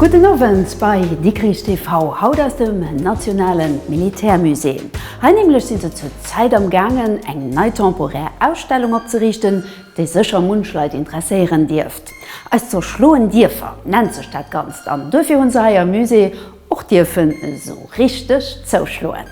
Gudden Owend bei Dikrich TV, haut aus dem Nationalen Militärmusée. Hei nämlech si se zur Zäit am gaangen eng nei temporär Ausstellung opzeriichten, déi sécher munch Leit interesséieren dierft. Eis zerschloen Dierfer nennt sech dat Ganzt an duerfir hu se hei am Musée och dierfen esou richteg zouschloen.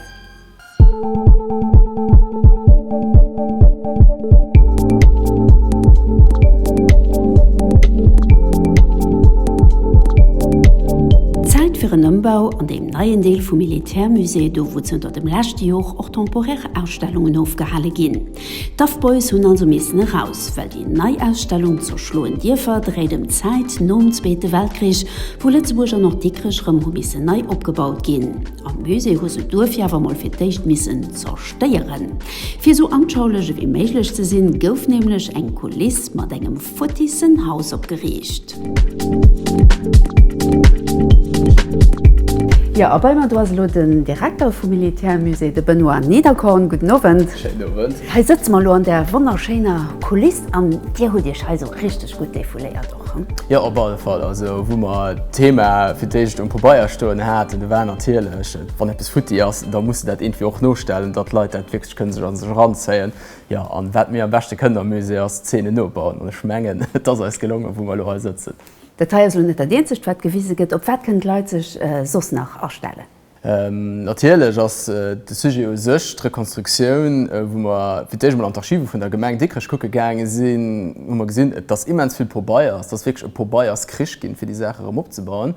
Zäit fir en Ëmbau an deem neien Deel vum Militärmusée, do wou zënter dem leschte Jor och temporär Ausstellungen ofgehale ginn. D'Duff Boys hunn also missen eraus, well déi nei Ausstellung Zur schloen Dierfer dréit ëm d'Zäit nom Zweete Weltkrich, wou Lëtzebuerg an och Dikrech rëm hu missen nei opgebaut ginn. Am Musée hu se duerfir awer mol fir d'éischt missen zerstéieren. Fir esou anschaulech ewéi méiglech ze sinn, gouf nämlech eng Kuliss mat engem. Vottissenhaus opgeriicht. Jo, a bei mer do ass elo den Direkter vum Militärmusée, de Benoît Niederkorn. Gudden Owend. Schéinen Owend. Hei sëtze mer elo an där wonnerschéiner Kuliss an Dir hutt Iech hei esou richteg gutt defouléiert och, hm? Jo, op alle Fall. Also wou mer d'Thema fir d'éischt um Pabeier stoen haten, do war natierlech, wann eppes futti ass, da muss de dat iergendwéi och nostellen, datt d'Leit dat wierklech kënne sech a sech eranzéien. Jo, an wat mir am beschte kënnen am Musée ass Zeenen nobauen, an ech mengen et ass eis gelongen wou mer elo hei sëtzen. Dat hei ass elo net dat eenzegt wat gewise gëtt. Op wat kënnen d'Leit sech soss nach astellen? Natierlech ass de Sujet u sech d'Rekonstruktioun. Wou mer fir d'éischt emol an d'Archive vun der Gemeng Dikrech kucke gaange sinn, hu mer gesinn, dass immens vill Pobeier, dass wierklech e Pobeierskrich ginn, fir déi Saach erëm opzebauen.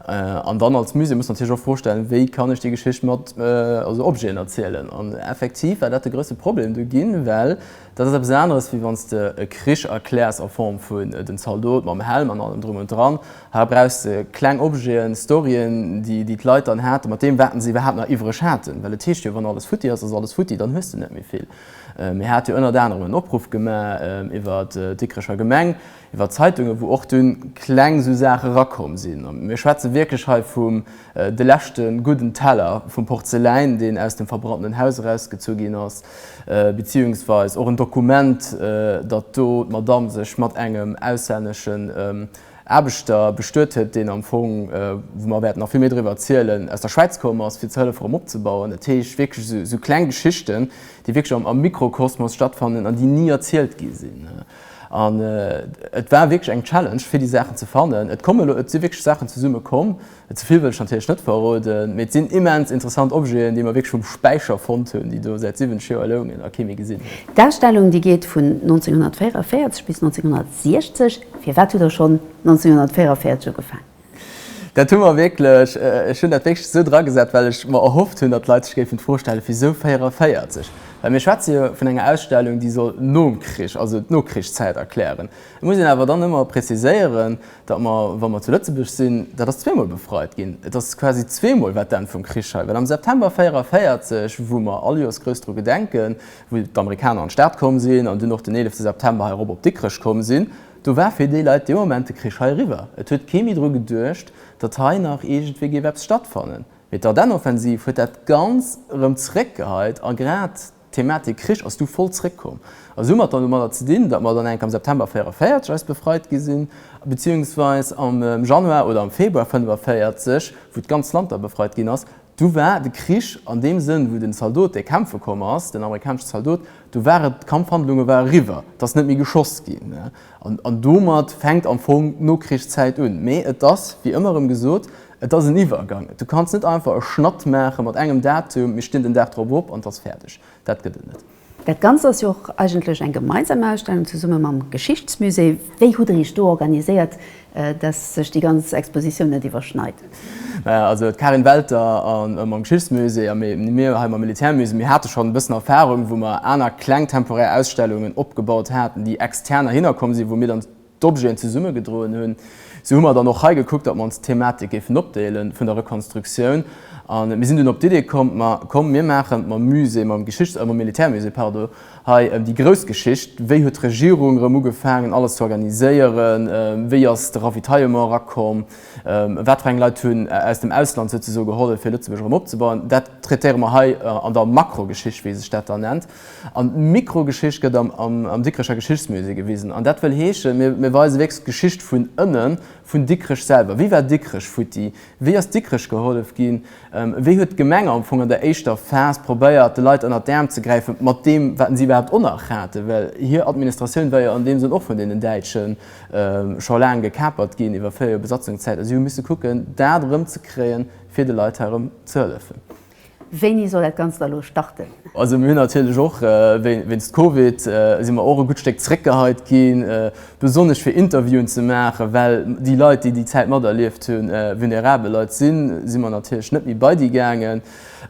An dann als Musée muss natierlech och d'Fro stellen, wéi kann ech déi Geschicht mat Objeten erzielen? An effektiv war dat de grousse Problem do ginn, well dat ass eppes aneres, wéi wann s de e Krich erkläers a Form vun den Zaldot mam Helm an allem Drum und Dran. Hei brauchs de kleng Objeten, Storyen, déi d'Leit dann haten, mat deem, wat se iwwerhaapt nach iwwereg haten. Well et heescht jo, wann alles futti ass, ass alles futti, dann hues de net méi vill. Mir hate jo ënnert anerem en Opruff gemaach iwwer d'Dikrecher Gemeng, Iwwer d'Zeitungen, wou och dunn kleng esou Saache erakomm sinn. Mir schwätze wierklech hei vum de leschte gudden Teller vum Porzeläin, deen aus dem verbrannenen Haus erausgezu ginn ass, beziehungsweis och en Dokument, datt do d'Madamm sech mat engem auslänneschen Aarbechter bestuet huet, deen am Fong, wou mer wäerten nach vill méi driwwer erzielen, aus der Schwäiz komm ass, fir ze hëllefen, erëm opzebauen. Dat heescht wierklech esou kleng Geschichten, déi wierklech am Mikrokosmos stattfannen an déi ni erzielt gi sinn. An et war wierklech eng Challenge, fir déi Saachen ze fannen. Et kommen elo, et si wierklech Saachen zesumme komm. Ze vill wëll ech natierlech net verroden, mee et sinn immens interessant Objeten, déi mer wierklech vum Späicher fonnt hunn, déi do säit 70 Joer loungen a kee méi gesinn huet. D'Ausstellung, déi geet vun 1944 bis 1960. Firwat hutt Der schonn 1944 ugefaangen? Dat hu mer wierklech, ech hunn dat wierklech esou dragesat, well ech mer erhofft hunn, datt d'Leit sech géifen d'Fro stellen, Wisou 44? Well mir schwätze jo vun enger Ausstellung, déi soll nom Krich, also d'Nokrichszäit erklären. Et muss een awer dann ëmmer preziséieren, datt mer, wa mer zu Lëtzebuerg sinn, dat ass zweemol befreit ginn, et ass quasi zweemol wat d'Enn vum Krich hei, well am September 44, wou mer all Joers grouss dru gedenken, wou d'Amerikaner an d'Stad komm sinn an dunn och den 11 September heirop op Dikrech komm sinn, Do war fir déi Leit dee Moment de Krich hei eriwwer. Et huet kee méi dru geduecht, datt hei nach iergendwéi géif eppes stattfannen. Mee d'Ardennenoffensiv huet dat Ganz erëm zeréckgeheit a grad d'Thematik Krich ass du voll zeréckkomm. A soumat dann domadder ze dinn, datt mer dann enk am September 44 eis befreit gi sinn, beziehungsweis am Januar oder am Februar 45, wou d'ganz Land da befreit ginn ass, du war de Krich an deem Sënn, wou den Zaldot, dee kämpfe komm ass, den amerikanesche Zaldot, Do war et, d'Kampfhandlunge war eriwwer, et ass net méi geschoss ginn. An domat fänkt am Fong d'Nokrichszäit un. Mee et ass, wéi ëmmer erëm gesot, et ass en Iwwergang. Du kanns net einfach e Schnatt maache mat engem Datum, mir stinn den Dag drop op an et ass fäerdeg. Dat gëtt et net. Dat Ganzt ass jo och eigentlech eng gemeinsam Ausstellung zesumme mam Geschichtsmusée. Wéi hutt Der Iech do organiséiert, Dass sech déi ganz Expositioun net iwwerschneit. Naja, also d'Karin Welter mam Geschichtsmusée a mir hei mam Militärmusée, mir hate schonn e bëssen Erfarung, wou mer aner kleng temporär Ausstellungen opgebaut haten, déi extern heihinner komm sinn, wou mir dann d'Objeten zesummegedroen hunn. Sou hu mer dann och hei gekuckt, datt mer ons d'Thematik géifen opdeele vun der Rekonstruktioun. A mir sinn dunn op d'Idee komm, ma komm, mir maachen mam Musée, mam Geschichts-, mam Militärmusée, pardon, Hei ëm déi grouss Geschicht, Wéi huet d'Regierung erëm ugefaangen, alles ze organiséieren? Wéi ass de Ravitaillement erakomm? Wat fir eng Leit hunn aus dem Ausland souzesoe gehollef, fir Lëtzebuerg erëm opzebauen? Dat traitéiere mer hei an der Makrogeschicht, wéi sech dat da nennt. An d'Mikrogeschicht gëtt am Dikrecher Geschichtsmusée gewisen. An dat wëll heeschen, mir weise wierklech d'Geschicht vun ënnen, vun Dikrech selwer. Wéi war Dikrech futti? Wéi ass Dikrech gehollef ginn? Wéi huet d'Gemeng am Fong an der éischter Phas probéiert, de Leit ënnert d'Äerm ze gräifen, mat deem, wat si iwwerhaapt och nach haten? Well hir Administratioun war jo an deem Sënn och vun deenen Däitsche scho laang gekapert ginn, iwwer véier Joer Besatzungszäit, a si hu misse kucken, dat erëmzekréien, fir de Leit hei erëm ze hëllefen. Wéini soll dat Ganzt da lo starten? Also mir hunn natierlech och wéinst Covid si mer och e gutt Stéck zréckgeheit ginn, besonnesch fir Interviewen ze maachen, well déi Leit, déi déi Zäit materlieft hunn, vulnerabel Leit sinn, si mer natierlech net méi bei déi gaangen.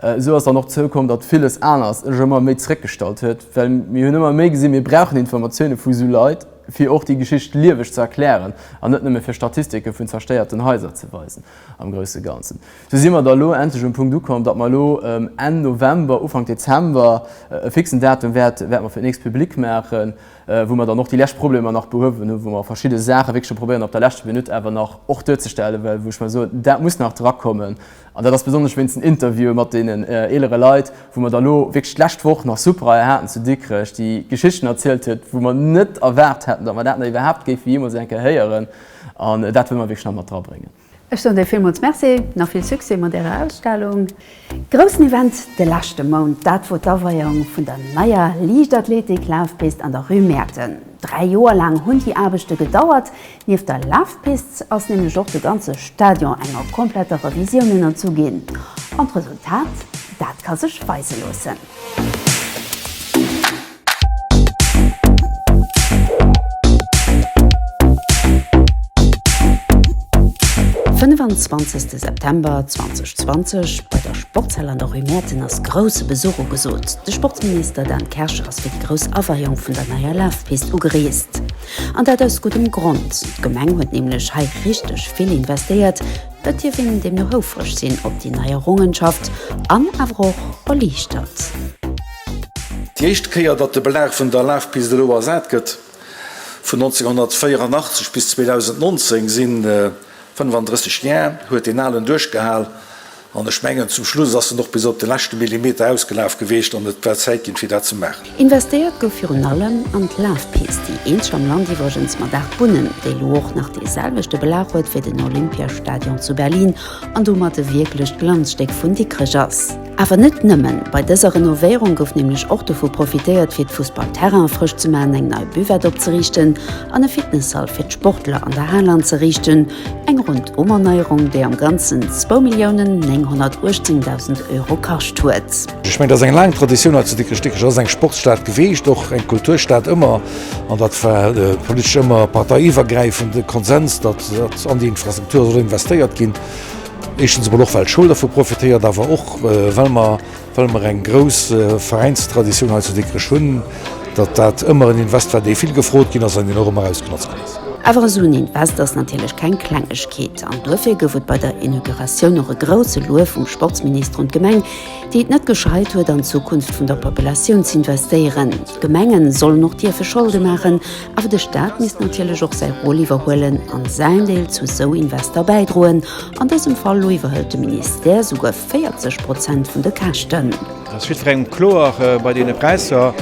Esou ass dann och zoukomm, datt villes anert sech ëmmer méi zréckgestallt huet, well mir hunn ëmmer méi gesinn, mir brauchen Informatioune vu sou Leit, fir och déi Geschicht lieweg ze erklären an net nëmme fir Statistike vun zerstéierten Haiser ze weisen am grousse Ganzen. Sou si mer da elo endlech um Punkt ukomm, datt mer elo Enn November, Ufank Dezember e fixen Datum wäerte mer fir d'nächst public maachen, wou mer dann och déi lescht Problemer nach behuewen hunn, wou mer verschidde Saache wierklech scho probéieren op der leschter Minutt awer nach och duerzestellen, well wou ech mer soen, dat muss nach drakommen. An dat ass besonnesch wéinst den Interviewen mat deenen eelere Leit, wou mer da elo wierklech d'lescht Woch nach Suprae haten zu Dikrech, déi Geschichten erzielt huet, wou mer net erwaart hätten, datt mer dat nach iwwerhaapt géife jeemools eng Kéier héieren. An dat wëlle mer wierklech nach mat drabréngen. Ech soen dir villmools Merci, nach vill Succès mat ärer Ausstellung. Groussen Event de leschte Mount, dat wor d'Aweierung vun der neier Liichtathletik-Lafpist an der Rue Mäerten. Dräi Joer laang hunn déi Aarbechte gedauert. Nieft der Lafpist ass nämlech och de ganze Stadion enger kompletter Revisioun ënnerzu ginn. An d'Resultat, dat ka sech weise loossen. 25 September 2020 bei der Sportshall an der Rue Mäerten ass grousse Besuch ugesot. De Sportsminister Dan Kersch ass fir déi grouss Aweiung vun der neier Lafpist ugereest. An dat aus guddem Grond, d'Gemeng huet nämlech hei richteg vill investéiert. Et dierf een deemno houfreg sinn op déi nei Errungenschaft an awer och erliichtert. Déi éischt Kéier, datt de Belag vun der Lafpist elo ersat gëtt, vun 1984 bis 2019 si 35 Jar, huet deen alen duerchgehal. An ech mengen, zum Schluss ass en och bis op de leschte Millimeter ausgelaf gewiescht an et war Zäit ginn, fir dat ze maachen. Investéiert gouf virun allem an d'Lafpist, déi eenzeg am Land iwwregens mat 8 Bunnen, déi elo och nach dee selwechte Belag huet wéi den Olympiastadion zu Berlin an domat e wierklecht Glanzstéck vun Dikrech ass. Awer net nëmmen, bei dëser Renovéierung gouf nämlech och dovu profitéiert fir d'Fussballterrainen frësch ze man, eng nei Buvette opzeriichten an e Fitnessall fir d'Sportler an der Hal anzeriichten. Eng Rondumerneierung, déi am Ganzen zwou Milliounen 918.000 Euro kascht huet. Ech mengen, dat ass eng laang Traditioun hei zu Dikrech-Dikrech. Et ass eng Sportsstad geweecht, och eng Kulturstad ëmmer. An dat war politesch ëmmer parteiiwwergräifende Konsens, datt an déi Infrastruktur soll investéiert ginn. Éischtens emol och well d'Schoul dervu profitéiert, awer och well mer well mer eng grouss Veräinstraditioun hei zu Dikrech hunn, datt dat ëmmer en Invest war, dee vill gefrot ginn ass an deen och ëmmer ausgenotzt ginn ass. Awer esou en Invest ass natierlech keng Klengegkeet an duerfir gouf et bei der Inauguratioun och e grousse Luef vum Sportsminister un d'Gemeng, déi et net gescheit huet an d'Zukunft vun der Populatioun z'investéieren. D'Gemenge sollen och dierfe Scholde maachen, Awer de Staat misst natierlech och säi Rôle iwwerhuelen a säin Deel zu esou Invester bäidroen. An dësem Fall elo iwwerhëlt de Ministère souguer 40 Prozent vun de Käschten. Et ass jiddwerengem kloer bei deene Präisser,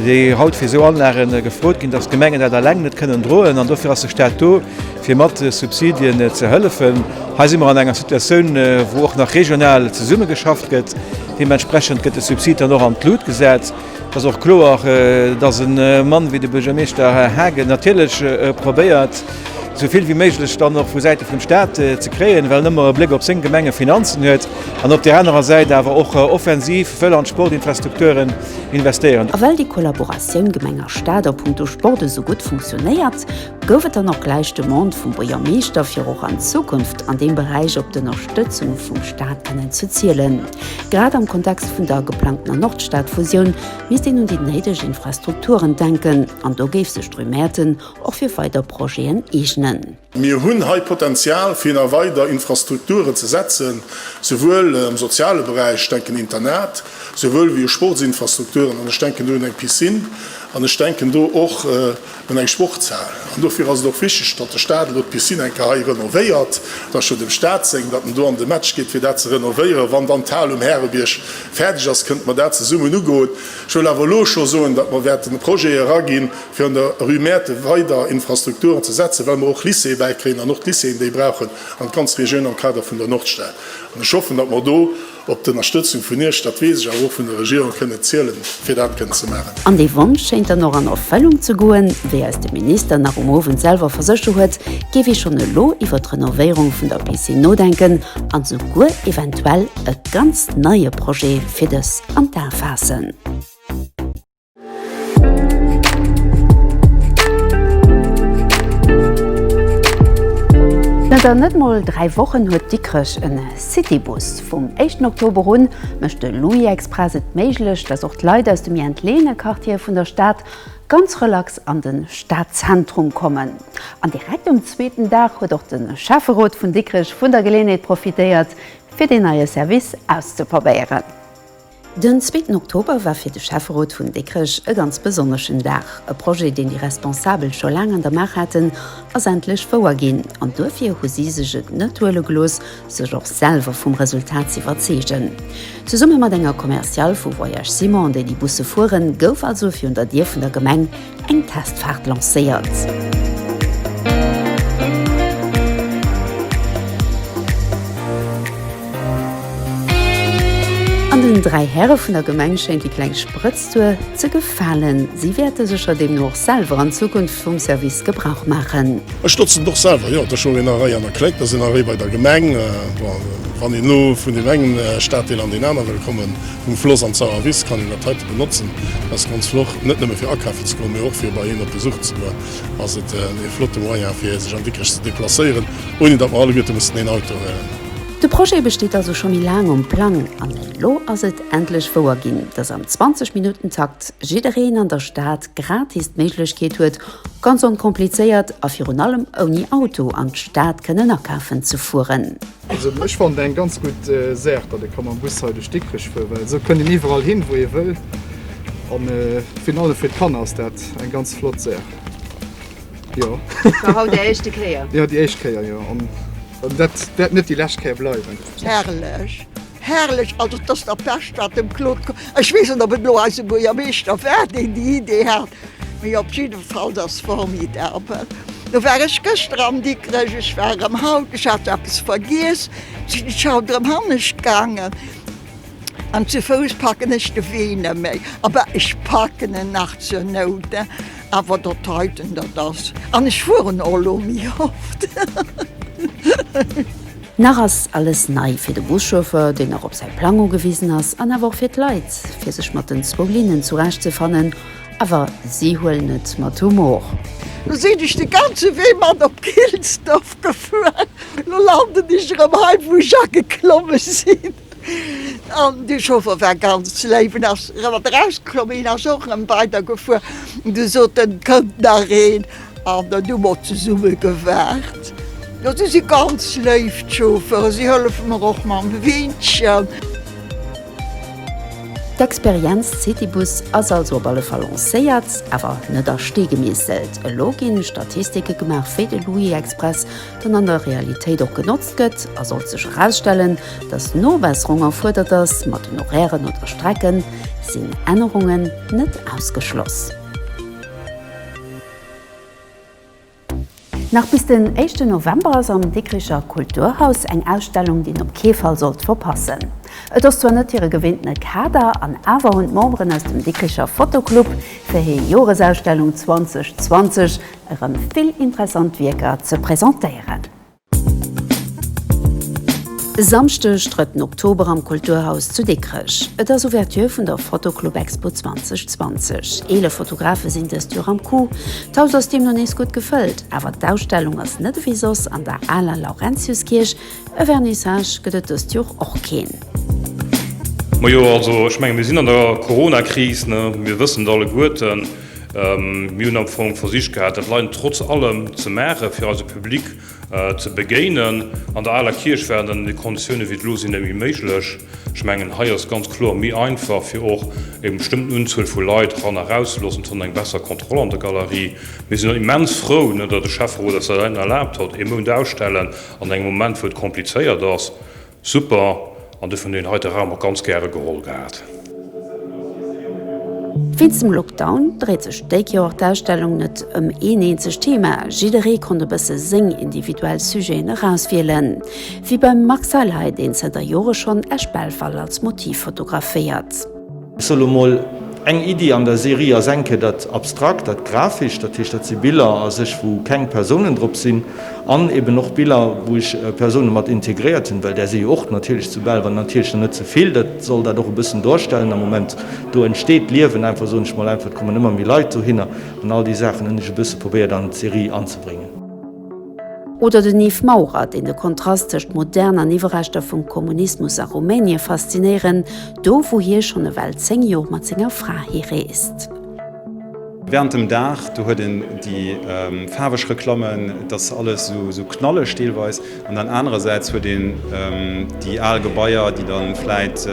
déi haut fir esou Anlage gefrot ginn, dass d'Gemengen dat eleng net kënnen droen. An dofir ass de Staat do, fir mat Subsidien ze hëllefen. Hei si mer an enger Situatioun, wou och nach regional zesummegeschafft gëtt. Deementsprechend gëtt de Subsid dann och an d'Lut gesat. Et ass och kloer, datt e Mann wéi de Buergermeeschter Haagen natierlech probéiert, esou vill wéi méiglech dann och vu Säite vum Staat ze kréien, well en ëmmer e Bléck op seng Gemengefinanzen huet an op där anerer Säit awer och offensiv wëll an d'Sportinfrastrukturen investéieren. A well déi Kollaboratioun Gemeng a Staat a punkto Sport esou gutt funktionéiert, gouf et dann och gläich d'Demande vum Buergermeeschter, fir och an Zukunft an deem Beräich op d'Ënnerstëtzung vum Staat kennen ze zielen. Grad am Kontext vun der geplangtener Nordstad-Fusioun misst een un déi néideg Infrastrukturen denken, an do géif sech d'Rue Mäerten och fir weider Projeten eegnen. Mir hunn hei Potenzial, fir nach weider Infrastrukturen ze setzen, souwuel am soziale Beräich, ech denken Internat, souwuel wéi u Sportsinfrastrukturen, an ech denken do un eng Piscine, an ech denken do och, an eng Sportshal. An dofir ass et och wichteg, datt de Staat elo d'Piscine eng Kéier hei renovéiert. Et ass schonn dem Staat seng, datt en do an de Match geet, fir dat ze renovéieren. Wann dann d'Hal um Härebierg fäerdeg ass, kënnte mer dat zesummen ugoen. Ech wëll awer elo scho soen, datt mer wäerten e Projet eraginn, fir an der Rue Mäerthe weider Infrastrukturen ze setzen, well mer och Lycée bäikréien an och d'Lycéeën déi brauchen an d'ganz Regioun am Kader vun der Nordstad. An ech hoffen, datt mer do, Op d'Ënnerstëtzung vun Iech, dat weess ech, awer och vun der Regierung kënn et zielen, fir dat kënnen ze maachen. An dee Wonsch schéint dann och an Erfëllung ze goen. Wéi eis de Minister nach um Owend selwer versécher huet, géif ee schonn elo iwwer d'Renovéierung vun der Piscine nodenken an esouguer eventuell e ganz neie Projet fir dës an d'A faassen. Zanter net mol dräi Wochen huet Dikrech en Citybus. Vum éischten Oktober un mécht de Louis-Express et méiglech, datt och d'Leit aus de méi entleeëne Quartiere vun der Stad ganz relax an de Stadzentrum kommen. An direkt um zweeten Dag huet och de Schäfferot vun Dikrech vun der Geleeënheet profitéiert, fir deen neie Service auszeprobéieren. Den zweeten Oktober war fir de Schäfferot vun Dikrech e ganz besonneschen Dag. E Projet, deen déi Responsabel scho laang an der Maach haten, ass endlech wouer ginn. An duerfir hu si sech et net huele gelooss, sech och selwer vum Resultat z'iwwerzeegen. Zesumme mat enger Commerciale vu Voyages Simon, déi déi Busse fueren, gouf also virun der Dier vun der Gemeng eng Testfaart lancéiert. An den dräi Häre vun der Gemeng schéint déi kleng Sprëtztour ze gefalen. Si wäerte sécher deemno och selwer an Zukunft vum Service Gebrauch maachen. Ech notzen et och selwer, jo. Et ass jo een Arrêt an der Kléck, da sinn Arrêt bei der Gemeng. Wann een elo vun deem engen Staddeel an deen anere kommen Vum Floss an d'Sauer Wiss kann een dat heite benotzen. Ass ganz flott, net nëmme fir akafen ze goen, mee och fir bei een op Besuch ze goen, ass et ee flotte Moyen fir sech an Dikrech ze deplacéieren, ouni datt mer alleguerte mussen een Auto huelen. De Projet besteet also scho méi laang um Plang an elo ass et endlech wouer ginn, datt am 20 Minutten Takt jiddereen an der Stad gratis d'Méiglechkeet huet, ganz onkomplizéiert a virun allem ouni Auto an d'Stad kënnen akafen ze fueren. Also ech fand eng ganz gutt äh, Saach, dat e kann am Bus hei duerch Dikrech fuer, well so kënnt een iwwerall hin, wou ee wëll. An äh, virun allem fir d'Kanner ass dat eng ganz flott Saach. Ja. War haut der éischte Kéier? ja, déi éischt Kéier, ja. An dat dat net déi lescht Kéier bleiwen. Herrlech! Herrlech, also et ass der Pescht wat dem Claude komm. Ech weess net op et lo eise Buergermeeschter war deen déi Idee hat, mee op jiddefalls ass formidabel. Lo war ech gëschter am Dikrech, ech war erëm haut, ech hat eppes vergiess, sinn ech haut erëm hannescht gaangen an zu Fouss packen ech de Wee net méi. Awer ech packen en nach zur Nout, awer datt heiten dat ass. An ech fueren och lo méi oft. Nach ass alles nei fir de Buschauffeur, deen nach op säi Plang ugewisen ass, an awer och fir d'Leit, fir sech mat den zwou Linnen zurecht ze fannen. Awer si huelen et mat Humor. Lo sinn ech de ganze Wee mat op Gilsdorf gefuer. Lo landen ech erëm hei, wou ech ageklommen sinn. An de Chauffer war ganz léif en ass mat erausgeklomm, hien ass och erëm weider gefuer. Du sot en, et kënnt nach een, an dann hu mer zesumme gewaart. Jo, si si ganz léif d'Chauffere, si hëllefe mer och mam Weenchen. D'Experienz Citybus ass also op alle Fall lancéiert, awer net a Stee gemeesselt. Elo ginn Statistike gemaach, wéi de Louis Express den an der Realitéit och genotzt gëtt, a sollt sech erausstellen, dass Nobesserung erfuerdert ass mat den Horairen oder Strecken, sinn Ännerungen net ausgeschloss. Nach bis den éischten November ass am Dikricher Kulturhaus eng Ausstellung, déi een op kee Fall sollt verpassen. Et ass zwar net hire gewinntene Kader, an awer hunn d'Memberen aus dem Dikricher Fotoclub fir hir Joresausstellung 2020 erëm vill interessant Wierker ze presentéieren. E Samschdeg, drëtten Oktober am Kulturhaus zu Dikrech. Et ass Ouverture vun der Fotoclubexpo 2020. Eelef Fotografe sinn dëst Joer am Coup. D'Haus ass deemno nees gutt gefëllt. Awer d'Ausstellung ass net ewéi soss an der aler Laurentiuskierch. E Vernissage gëtt et dëst Joer och keen. Majo, also ech menge mir sinn an der Coronakris, ne, mir wëssen et alleguerten. Mir hunn am Fong versicht gehat, dat Leiden trotz allem ze maachen, fir eise Public ze begéinen. An der aler Kierch war et an deene Konditiounen, wéi et elo sinn, net méi méiglech. Ech mengen, hei ass et ganz kloer méi einfach, fir och eng bestëmmten Unzuel vu Leit ran a raus ze loossen. Et huet een eng besser Kontroll an der Galerie. Mir sinn och immens frou, datt de Schäfferot eis dat erlaabt huet, ee Mount ausstellen an engem Moment, wou et komplizéiert ass. Super, an dofir hunn een hei de Raum och ganz gäre geholl gehat. Wéinst dem Lockdown dréit sech dék Joer d'Ausstellung net ëm een eenzegt Thema, jidderee konnt e bësse séng individuell Sujeten erauswielen, wéi beim Max Seil hei, deen zënter Jore schonn Esch-Belval als Motiv fotograféiert. Ech soll lo mol eng Iddi an der Serie ass enke dat Abstrakt, dat Grafescht, dat heescht dat si Biller a sech wou keng Persounen drop sinn an eben och Biller wou ech Persounen mat integréiert hunn, well där si jo och natierlech zu Belval, natierlech nach net ze vill, dat soll dat och e bëssen dorstellen am Moment. Do entsteet Liewen einfach, soen ech mol einfach, et kommen ëmmer méi Leit dohinner an all déi Saachen hunn ech e bësse probéiert an d'Serie anzebréngen. Oder den Yves Maurer, deen de Kontrast tëscht Modern an Iwwerreschter vum Kommunismus a Rumänie faszinéieren, do wou hie schonn ewell 10 Jor mat senger Fra hi reest. Während dem Dag, do huet en déi faarweg Reklammen, et ass alles esou knalleg deelweis, an dann anerersäits huet een déi al Gebaier, déi dann vläit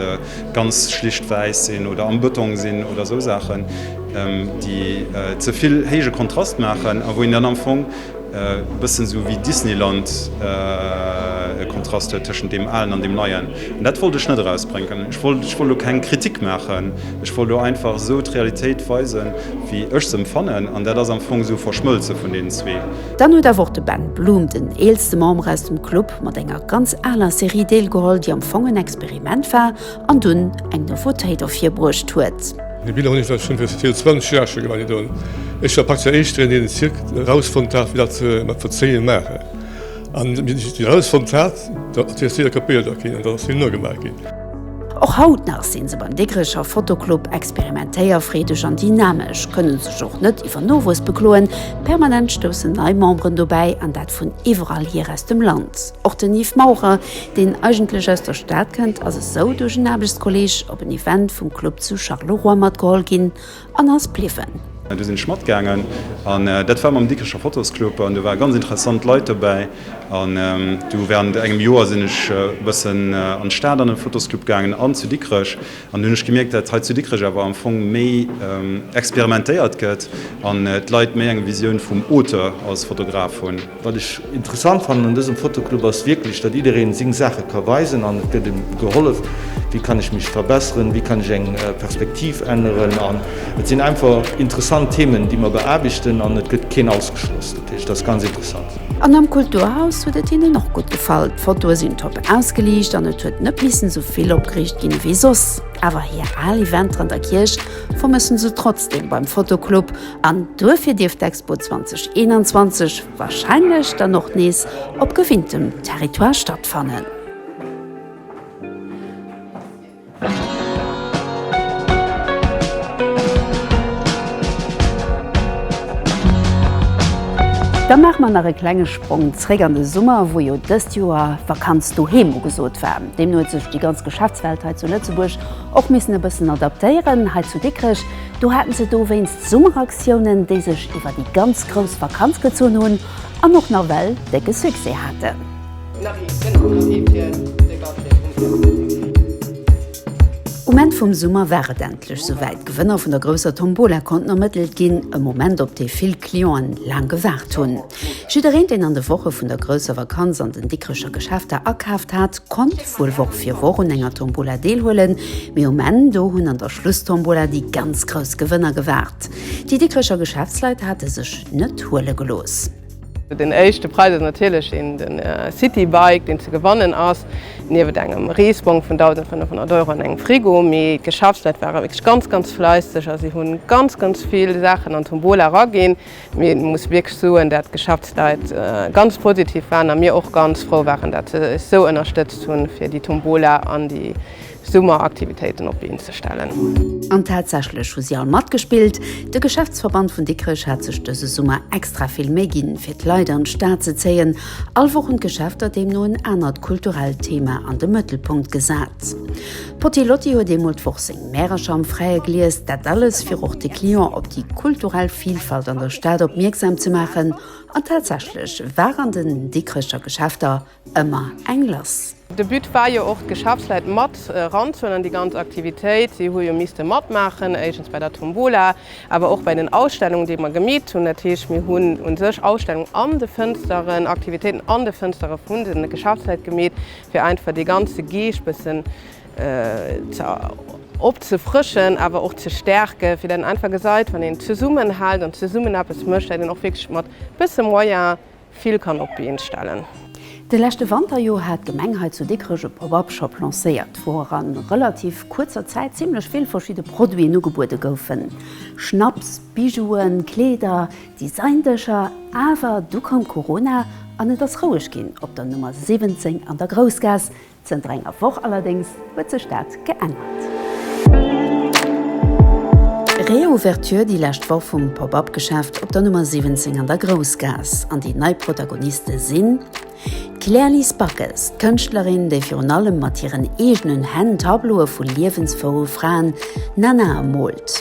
ganz schlicht wäiss sinn oder am Bëtong sinn oder esou Saachen, déi ze vill héije Kontrast maachen a wou een dann am Fong E bëssen esou wéi Disneyland e Kontrast huet tëschent deem Alen an deem Neien. An dat wollt ech net erausbrénken. Ech wollt, ech wollt elo keng Kritik maachen. Ech wollt elo einfach esou d'Realitéit weisen, wéi ech se empfannen. An dat ass am Fong esou e Verschmëlze vun deenen zwee. Dann huet awer och de Ben Bloom, den eelste Member aus dem Club, mat enger ganz aler Serie deelgeholl, déi am Fong en Experiment war, an dunn eng Nouveautéit ervirbruecht huet. Déi Biller hunn ech schonn viru 20 Joer scho gemaach. Ech war praktesch den Éischten, deen den Zirk erausfonnt hat, wéi dat se mat Verzéien maachen. An wéi ech dat erausfonnt hat, da ass dee Zirk kapéiert ginn an dann ass him nogemaach ginn. Och haut nach si se beim Digrecher Fotoclub experimentéierfreedeg an dynamesch, kënne sech och net iwwer Nowuess bekloen. Permanent stoussen nei Memberen dobäi, an dat vun iwwerall hier aus dem Land. Och den Yves Maurer, deen eigentlech aus der Stad kënnt, ass esou duerch en Aarbechtskolleeg op en Event vum Club zu Charleroi matgeholl ginn an ass bliwwen. Du sinn ech matgaangen an dat war mam Dikricher Fotosclub an do ware ganz interessant Leit dobäi. An du während engem Joer sinn ech e bëssen an d'Stad an de Fotosclub gaangen an zu Dikrech an hunn ech gemierkt, dat hei zu Dikrech awer am Fong méi experimentéiert gëtt an d'Leit méi eng Visioun vum Auteur als Fotograf hunn. Wat ech interessant fannen un dësem Fotoclub ass wierklech, datt jiddereen seng Saache ka weisen an et gëtt em gehollef, wéi kann ech mech verbesseren, wéi kann ech eng Perspektiv änneren an et sinn einfach interessant Themen déi mer beaarbechten an et gëtt keen ausgeschloss. Dat heescht, et ass ganz interessant. An am Kulturhaus huet et hinnen och gutt gefall. D'Fotoe sinn top ausgeliicht an et huet net missen esou vill opgeriicht ginn ewéi soss. Awer hir al Eventeren der Kierch vermëssen se trotzdeem beim Fotoclub An duerfir dierf d'Expo 2021 warscheinlech dann och nees op gewinntem Territoire stattfannen. Da maache mer nach e klenge Sprong zréck an de Summer, wou jo dëst Joer Vakanz doheem ugesot war. Deemno huet sech déi ganz Geschäftswelt hei zu Lëtzebuerg och missen e bëssen adaptéieren. Hei zu Dikrech Do haten se dowéinst Summeraktiounen, déi sech iwwer déi ganz grouss Vakanz gezunn hunn an och nawell décke Succès haten. Um Enn vum Summer war et endlech souwäit, D'Gewënner vun der grousser Tombola konnten ermëttelt ginn, e Moment, op dee vill Clienten laang gewaart hunn. Jiddereen, deen an de Woche vun der grousser Vakanz an den Dikrecher Geschäfter akaaft hat, konnt wuel Woch fir Woch un enger Tombola deelhuelen, mee um Enn do hunn an der Schlusstombola déi ganz grouss Gewënner gewaart. Déi Dikrecher Geschäftsleit hate sech net huele gelooss. Den éischte Präis ass natierlech een de Citybike, deen ze gewannen ass, niewent engem Reesbong vun 1.500 Euro an engem Frigo. Mee d'Geschäftsleit ware wierklech ganz, ganz fläisseg a si hu ganz, ganz vill Saachen an d'Tombola eraginn, Mee et muss wierklech soen, dat d'Geschäftsleit ganz positiv waren a mir och ganz frou waren, dat se eis sou ënnerstëtzt hunn, fir déi Tombola an déi Summeraktivitéiten op d'Been ze stellen. An tatsächlech hu si all matgespillt. De Geschäftsverband vun Dikrech hat sech dëse Summer extra vill Méi ginn, fir d'Leit an d'Stad ze zéien. All Woch hunn d'Geschäfter deemno en anert kulturellt Thema an de Mëttelpunkt gesat. D'Potty Lotty huet eemol d'Woch seng Märercher am Fräie gelies. Dat alles, fir och de Client op déi kulturell Vilfalt an der Stad opmierksam ze maachen. An tatsächlech war an den Dikrecher Geschäfter ëmmer eng lass. De But war jo och, d'Geschäftsleit mat eranzehuelen an déi ganz Aktivitéit. Si hu jo misste matmaachen, éischtens bei der Tombola, awer och bei den Ausstellungen, déi mer gemeet hunn. Dat heescht, mir hunn u sech Ausstellungen an de Fënsteren, Aktivitéiten an de Fënstere vun de Geschäftsleit gemeet. fir einfach dee ganze Geescht bëssen ze opzefrëschen, awer och ze stäerken, fir dat een einfach gesäit, wann een zesummenhält an zesummen eppes mécht, dat een och wierklech mat bësse Moyen vill kann op d'Been stellen. De leschte Wanter jo hat d'Gemeng hei zu Dikrech e Pop-up Shop lancéiert, wou a relativ kuerzer Zäit zimmlech vill verschidde Produiten ugebuede goufen, Schnapps, Bijouen, Kleeder, Designdëscher, awer du koum Corona an et ass roueg ginn op der Nummer 17 an der Groussgaass. Zënter enger Woch allerdéngs huet sech dat geännert. Reouverture déi lescht Woch vum Pop-Up Geschäft op der Nummer 17 an der Groussgaass an déi nei Protagoniste sinn d'Claire-Lise Backes, d'Kënschtlerin, déi virun allem mat hiren eegenen Hänn Tableaue vu liewensfroue Fraen nana moolt.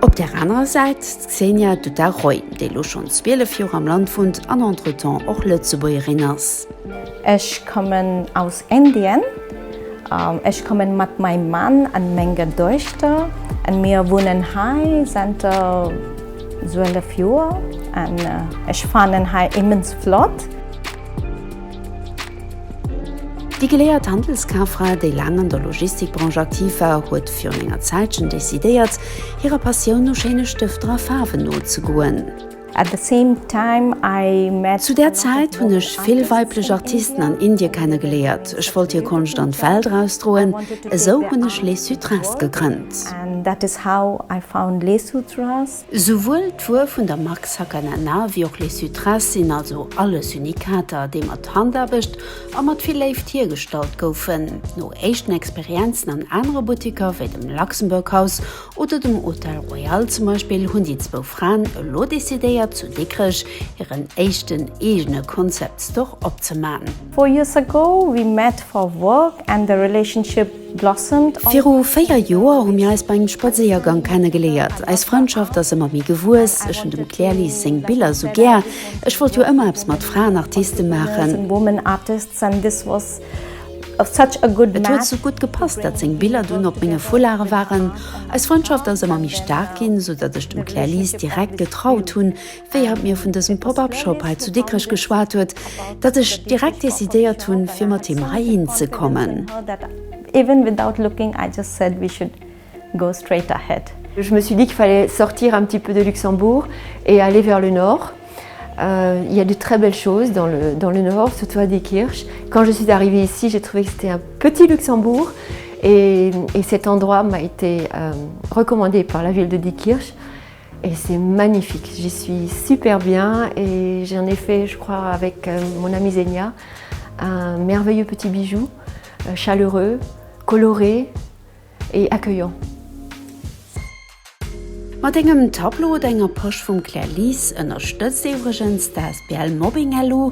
Op där anerer Säit d'Xenia Dutarroy, déi lo schonn 12 Joer am Land wunnt an entretemps och Lëtzebuergerin ass. Ech kommen aus Indien. Ech kommen mat maim Mann an menger Doechter an mir wunnen hei zenter 12 Joer an ech fannen hei immens flott. Déi geléiert Handelskafra, déi laang an der Logistikbranche aktiv war, huet virun enger Zäitchen decidéiert, hirer Passioun no schéine Stëfter a Faarwen nozegoen. Zu där Zäit hunn ech vill weiblech Artisten an Indie kenne geléiert. Ech wollt hir Konscht an d'Welt erausdroen. Esou hunn ech Les Sutras gegrënnt. Souwuel d'Wuer vun der Mark Sakanana wéi och Les Sutres sinn also alles Unikater, déi mat Handaarbecht a mat vill Léift hiergestallt goufen. No éischten Experienzen an anere Buttiker, wéi dem Luxembourg House oder dem Hôtel Royal zum Beispill, hunn déi zwou Fraen elo decidéiert, zu Dikrech hiren éischten eegene Concept Store opzemachen. Four Years Ago, We Met for Work and the Relationship Viru véier Joer hu mir eis bei engem Spadséiergang kennegeléiert. Eis Frëndschaft ass ëmmer méi gewuess. Ech hunn dem Claire Lise seng Biller sou gär. Ech wollt jo ëmmer eppes mat Fraenartiste maachen. Et huet sou gutt gepasst, datt seng Biller dunn op menge Foulare waren. Eis Frëndschaft ass ëmmer méi staark ginn, sou datt ech dem Claire Lise direkt getraut hunn, wéi hatt mir vun dësem Pop-up Shop hei zu Dikrech geschwat huet, datt ech direkt decidéiert hunn, fir mat him heihin ze kommen. Even without looking, I just said we should go straight ahead. Je me suis dit qu'il fallait sortir un petit peu de Luxembourg et aller vers le nord. Il y a de très belles choses dans le dans le nord, surtout à Diekirch. Quand je suis arrivée ici, j'ai trouvé que c'était un petit Luxembourg et et cet endroit m'a été recommandé par la ville de Diekirch. Et c'est magnifique, j'y suis super bien et j'en ai fait je crois avec mon amie Zenia un merveilleux petit bijou chaleureux, coloré et accueillant. Mat engem Tableau oder enger Posch vum Clairlise ënnerstëtzt ee iwwregens d'asbl Mobbing-LU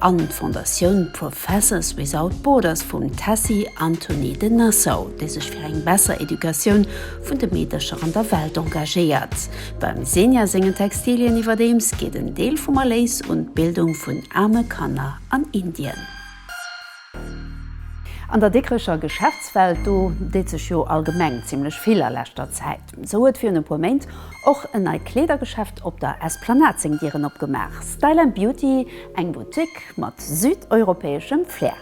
an d'Fondatioun Professors Without Borders vum Tessy Antony de Nassau, déi sech fir eng besser Educatioun vun de Meedercher an der Welt engagéiert. Beim Senja sengen Textilien iwwerdeems geet en Deel vum Erléis un d'Bildung vun aarme Kanner an Indien. An der Dikrecher Geschäftswelt, do deet sech jo allgemeng zimmlech vill a leschter Zäit, sou huet virun e puer Méint och en neit Kleedergeschäft op der Esplanade seng Dieren opgemaach, Style and Beauty, eng Boutique mat südeuropäeschem Flair.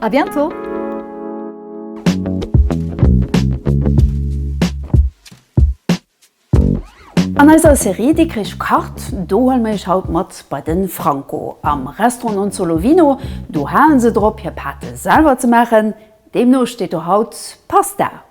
A bientôt! An eiser Serie Dikrich kacht, do huele mir iech haut mat bei de Franco am Restaurant Non Solo Vino. Do halen se drop hir Pate selwer ze maachen, deemno steet do haut Pasta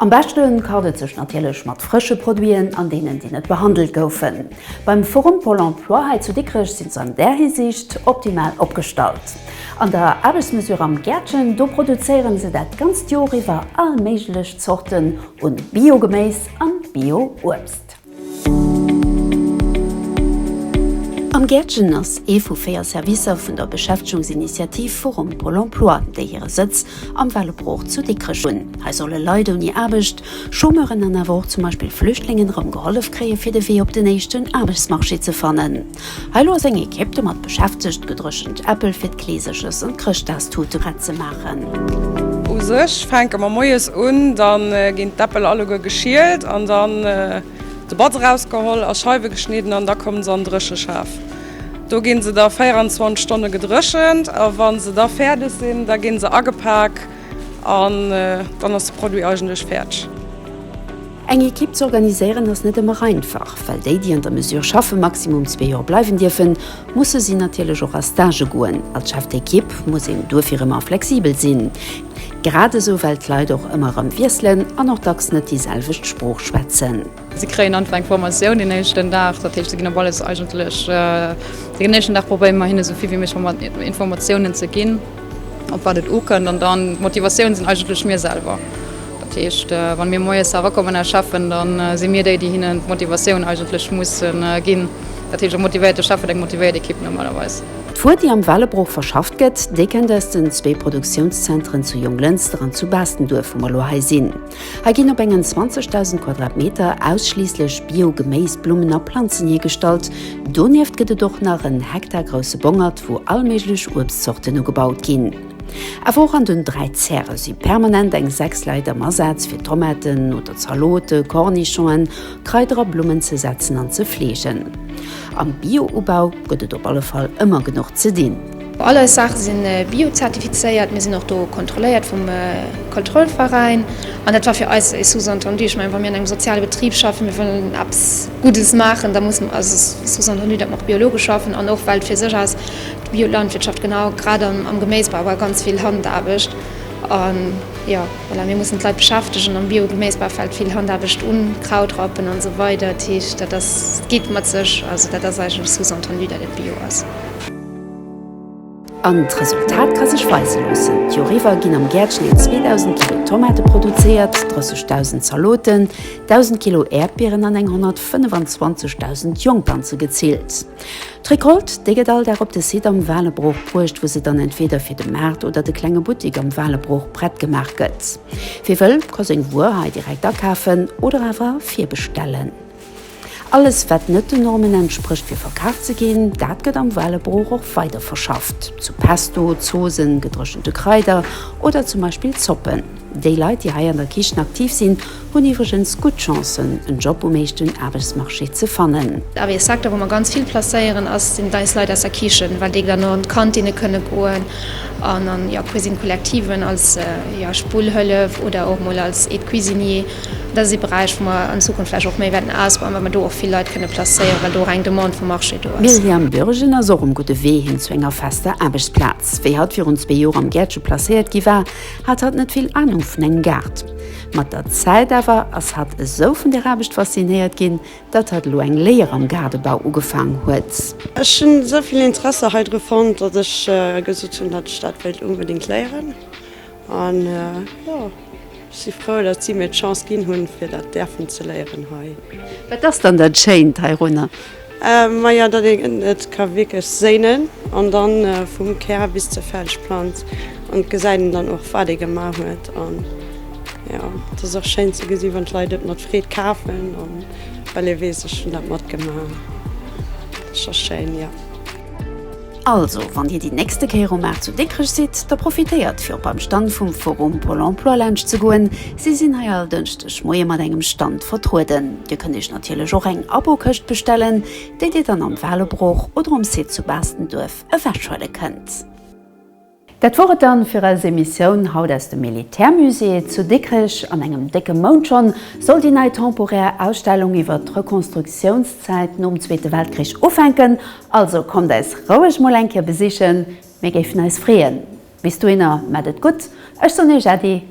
Am beschte kart et sech natierlech mat frësche Produiten an deenen, déi net behandelt goufen. Beim Forum Pôle Emploi hei zu Dikrech sinn se an där Hisiicht optimal opgestallt. An der Aarbechtsmesure Am Gäertchen, do produzéieren se dat ganzt Jor iwwer all méiglech Zorten un Bio-Geméis an Bio-Uebst. Am Gäertchen ass ee vu véier Servicer vun der Beschäftegungsinitiativ Forum Pôle Emploi, déi hire Sëtz am Val op Rohr zu Dikrech hunn. Hei solle Leit ouni Aarbecht, Chômeuren an awer och zum Beispill Flüchtlingen erëm gehollef kréie fir de Wee op den éischten Aarbechtsmarché ze fannen. Hei lo ass eng Ekipp domat beschäftegt, gedréchent Äppel fir d'Kleeserches an d'Chrëschtdagstute prett ze maachen. U sech fänke mer moies un, da ginn d'Äppel alleguer geschielt an dann de Batz erausgeholl, a Scheiwe geschnidden an da komme se an Drécheschaf. Do gi se da 24 Stonne gedréchent a wa se da fäerdeg sinn, da gi se agepak an dann ass de Produit eigentlech fäerdeg. Eng Ekipp ze organiséieren ass net ëmmer einfach, well déi, déi an der Mesure schaffe maximum zwee Joer bleiwen dierfen, musse si natierlech och a Stagë goen. Als Chef d'Ekipp muss een duerfir ëmmer flexibel sinn, grad esou well d'Leit och ëmmer erëm wiesselen an och dacks net déi selwecht Sprooch schwätzen. Si kréien einfach eng Formatioun den éischten Dag, dat heescht, si ginn op alles eigentlech den éischten Dag. Probéiere mer hinne sou vill wéi méiglech Informatiounen ze ginn, op wat et ukënnt, an dann d'Motivatioun sinn eigentlech mir selwer. Dat heescht, wann mir moies erakommen als Cheffen, dann si mir déi, déi hinnen d'Motivatioun eigentlech mussen ginn. Dat heescht, e motivéierte Chef huet eng motivéiert Equipe normalerweis. D'Wuer, déi am Wellebroch verschafft gëtt, déi kennt aus den zwee Produktiounszenteren zu Jonglënster an zu Baastenduerf, wou mer lo hei sinn. Hei ginn op engen 20.000 Quadratmeter ausschliisslech Bio-Geméis, Blummen a Planzen hiergestallt. Donieft gëtt et och nach en Hektar grousse Bongert, wou allméiglech Uebstzorten ugebaut ginn. Awer och an den dräi Zäre si permanent eng sechs Leit am Asaz, fir Tomaten oder Zalote, Cornichonen, Kraider a Blummen ze setzen an ze fleegen. Am Bio-Ubau gëtt et op alle Fall ëmmer genuch ze dinn. All eis Saache si bio-zertifizéiert, mir sinn och do kontrolléiert vum Kontrollveräin. An dat war fir eis e Sous-entendu. Ech mengen, wa mir an engem soziale Betrib schaffen, mir wëllen eppes Guddes maachen, da muss, also Sous-entendu, dat mer och biologesch schaffen an och well fir sech aus Biolandwirtschaft, genau, grad am Geméisbau war ganz vill Handaarbecht. An jo, voilà, mir mussen d'Leit beschäftegen am Biogeméisbau fält vill Handaarbecht un, Kraut rappen an esou weider. Dat heescht, dat ass, geet mat sech, also dat ass eigentlech sous-entendu, dat et bio ass. An d'Resultat ka sech weise loossen, d'Joer iwwer ginn am Gäertchen eng 2.000 Kilo Tomate produzéiert, 30.000 Zaloten, 1.000 Kilo Äerdbieren an eng 125.000 Jongplanze gezillt. D'Recolte, déi gëtt all Dag op de Site am Waalerbroch bruecht, wou se dann entweeder fir de Maart oder de klenge Buttik am Waalerbroch prett gemaach gëtt. Wie wëll, ka seng Wuer hei direkt akafen oder awer virbestellen. Alles, wat net den Normen entsprécht fir verkaf ze ginn, dat gëtt am Waalerbroch och weiderverschafft zu Pesto, Zoosen, gedréchente Kraider oder zum Beispill Zoppen. Déi Leit, déi hei an der Kichen aktiv sinn, hunn iwwregens gutt Chancen, en Job um eeschten Aarbechtsmarché ze fannen. Awer ee Secteur, wou mer ganz vill placéieren, ass, sinn eis Leit aus der Kichen, well déi dann och an d'Kantinne kënne goen an an, jo, Cuisine Collectiven als, jo, Spullhëllef oder och mol als Aide-cuisinier. Dat ass ee Beräich, wou mer an Zukunft vläicht och méi wäerten ausbauen, well mer do och vill Leit kënne placéieren, well do och eng Demande vum Marché do ass. D'Myriam Bürgen ass och um gudde Wee hin zu enger fester Aarbechtsplaz. Wéi hatt virun zwee Joer am Gäertche placéiert gi war, Hatt hat net vill Anung vun engem Gaart. Mat der Zäit awer ass hatt esou vun der Aarbecht faszinéiert ginn, datt hatt elo eng Léier am Gaardebau ugefaang huet. Ech hunn esou vill Interesser hei dru fonnt, datt ech gesot hunn, datt ech dat wéilt onbedéngt léieren. An jo, ech si frou, datt si mir d'Chance ginn hunn, fir dat däerfen ze léieren hei. Wat ass dann dat Schéint heirunner? Maja dat een et ka wierklech séinen an dann vum Kär bis zur Felsplanz an et gesäit een dann och wat ee gemaach huet an jo et ass och schéin ze gesinn wann d'Leit et mat Freed kafen an well ee weess ech hunn dat matgemaach dat ass schéin jo. Also, wann Dir déi nächste Kéier um Maart zu Dikrech sidd, da profitéiert fir op beim Stand vum Forum Pôle Emploi laanscht ze goen. Si sinn hei all Dënschdeg Moie mat engem Stand vertrueden. Dir kënnt Iech natierlech och eng Abokëscht bestellen, déi Dir dann am Walebrooch oder um Site zu Baastenduerf ewechhuele kënnt. Dat wor et dann fir eis Emissioun haut aus dem Militärmusée zu Dikrech. An engem décke Mount schonn soll déi nei temporär Ausstellung iwwert d'Rekonstruktiounszäit nom Zweete Weltkrich ufänken. Also kommt eis roueg mol eng Kéier besichen, mir géifen eis freeën. Bis dohinner, mat et gutt, ech soen Iech Äddi.